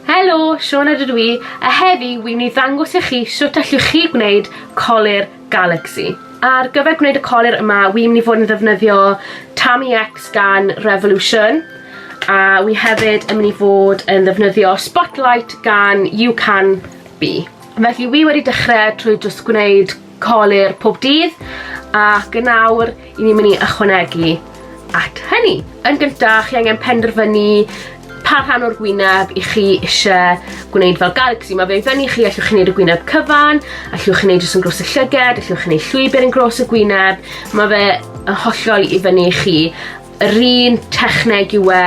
Helo, Siona dydw i, a heddi wy'n mynd i ddangos i chi sut allwch chi gwneud colir Galaxy. Ar gyfer gwneud y colir yma, wy'n mynd i fod yn ddefnyddio Tami X gan Revolution, a wy hefyd yn mynd i fod yn ddefnyddio Spotlight gan You Can Be. Felly wy wedi dechrau trwy jyst gwneud Colur pob dydd ac yn awr i ni'n mynd i ychwanegu at hynny. Yn gyntaf, chi angen penderfynu pa rhan o'r gwyneb i chi eisiau gwneud fel galaxy. Mae fe i fyny chi, allwch chi wneud y gwyneb cyfan, allwch chi wneud jyst yn gros y llyged, allwch chi wneud llwybr yn gros y gwyneb. Mae fe yn hollol i fyny chi. Yr un techneg yw e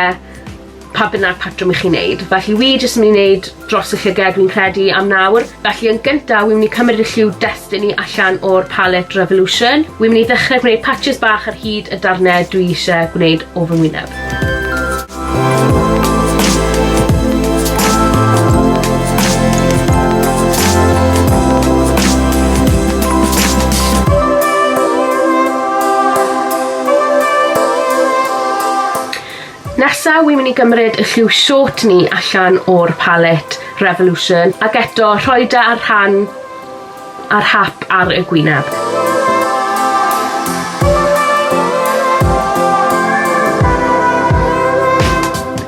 pa bynnag patrwm i chi wneud. Felly wi jyst yn mynd i wneud dros y llyged dwi'n credu am nawr. Felly yn gyntaf, wi'n mynd i cymryd y lliw Destiny allan o'r palette Revolution. Wi'n mynd i ddechrau gwneud patches bach ar hyd y darnau dwi eisiau gwneud o fy ngwyneb. Nesa wi myn i gymryd y lliw short ni allan o'r palet Revolution ac eto rhoi da ar rhan a'r hap ar y gwyneb.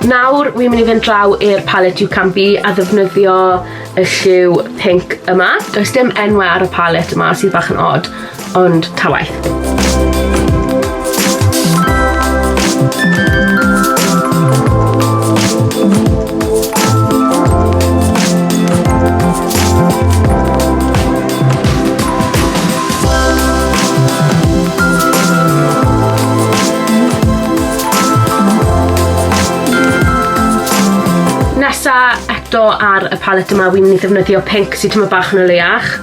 Nawr wi myn i fynd draw i'r palet You Can Be a ddefnyddio y lliw pink yma. Does dim enwe ar y palet yma sydd bach yn od. Ond ta waeth. eto ar y palet yma wi'n mynd i ddefnyddio pinc sy tyma' bach yn o leiach.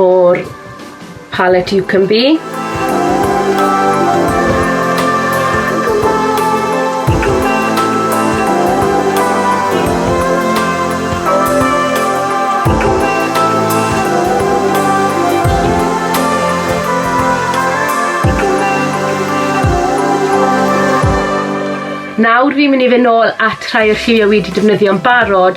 o'r palette You Can Be. Nawr fi'n mynd i fynd nôl at rhai o'r lliwiau wi wedi defnyddio'n barod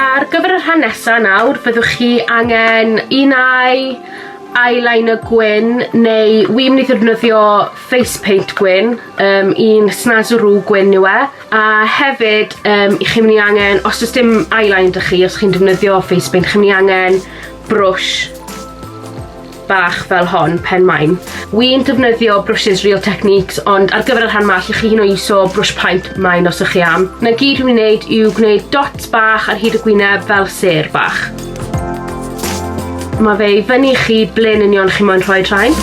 Ar gyfer y rhan nesa nawr, byddwch chi angen un ai, eyeliner gwyn, neu wi mynd i ddefnyddio face paint gwyn, um, un snazaroo gwyn yw e, a hefyd um, i chi'n mynd i angen, os oes dim eyeliner da chi, os chi'n defnyddio face paint, chi'n mynd i angen brwsh bach fel hon pen maen. Wi'n defnyddio brwsys Real Techniques ond ar gyfer y rhan ma lle chi hyn o iso brwsh paent maen os ych chi am. Na gyd wi'n wneud yw gwneud dots bach ar hyd y gwyneb fel ser bach. Mae fe i fyny chi ble'n union chi moyn rhoi rhain.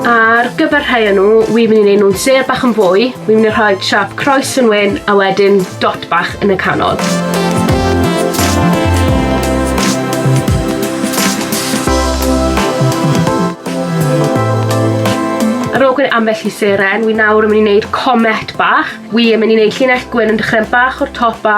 Ar gyfer rhai o nhw, wi'n mynd i wneud nhw'n ser bach yn fwy Wi'n mynd i rhoi siap croes yn wyn a wedyn dot bach yn y canol. Ar ôl gwneud ambell i seren, wi nawr yn mynd i wneud comet bach. Wi yn mynd i wneud llinell gwyn yn dechrau bach o'r top a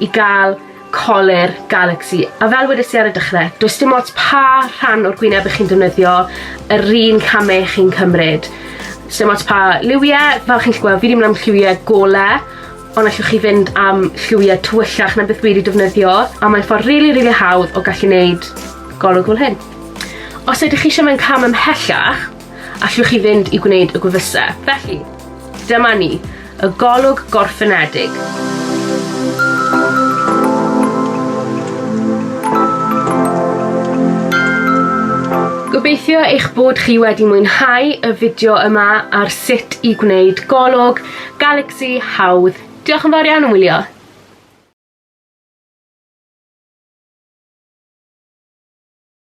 i gael colur Galaxy. A fel wedes i ar y dechrau, does dim ots pa rhan o'r gwyneb ych chi'n defnyddio, yr un camau chi'n cymryd. Dim ots pa liwiau, fel chi'n gallu gweld, fi wedi mynd am lliwiau golau, ond allwch chi fynd am lliwiau tywyllach na beth wedi defnyddio, a mae'n ffordd rili, really, rili really hawdd o gallu wneud golwg fel hyn. Os ydych chi eisiau mynd cam ymhellach, allwch chi fynd i gwneud y gwefusau. Felly, dyma ni, y golwg gorffenedig. Gobeithio eich bod chi wedi mwynhau y fideo yma ar sut i gwneud golwg Galaxy hawdd. Diolch yn fawr iawn am wylio.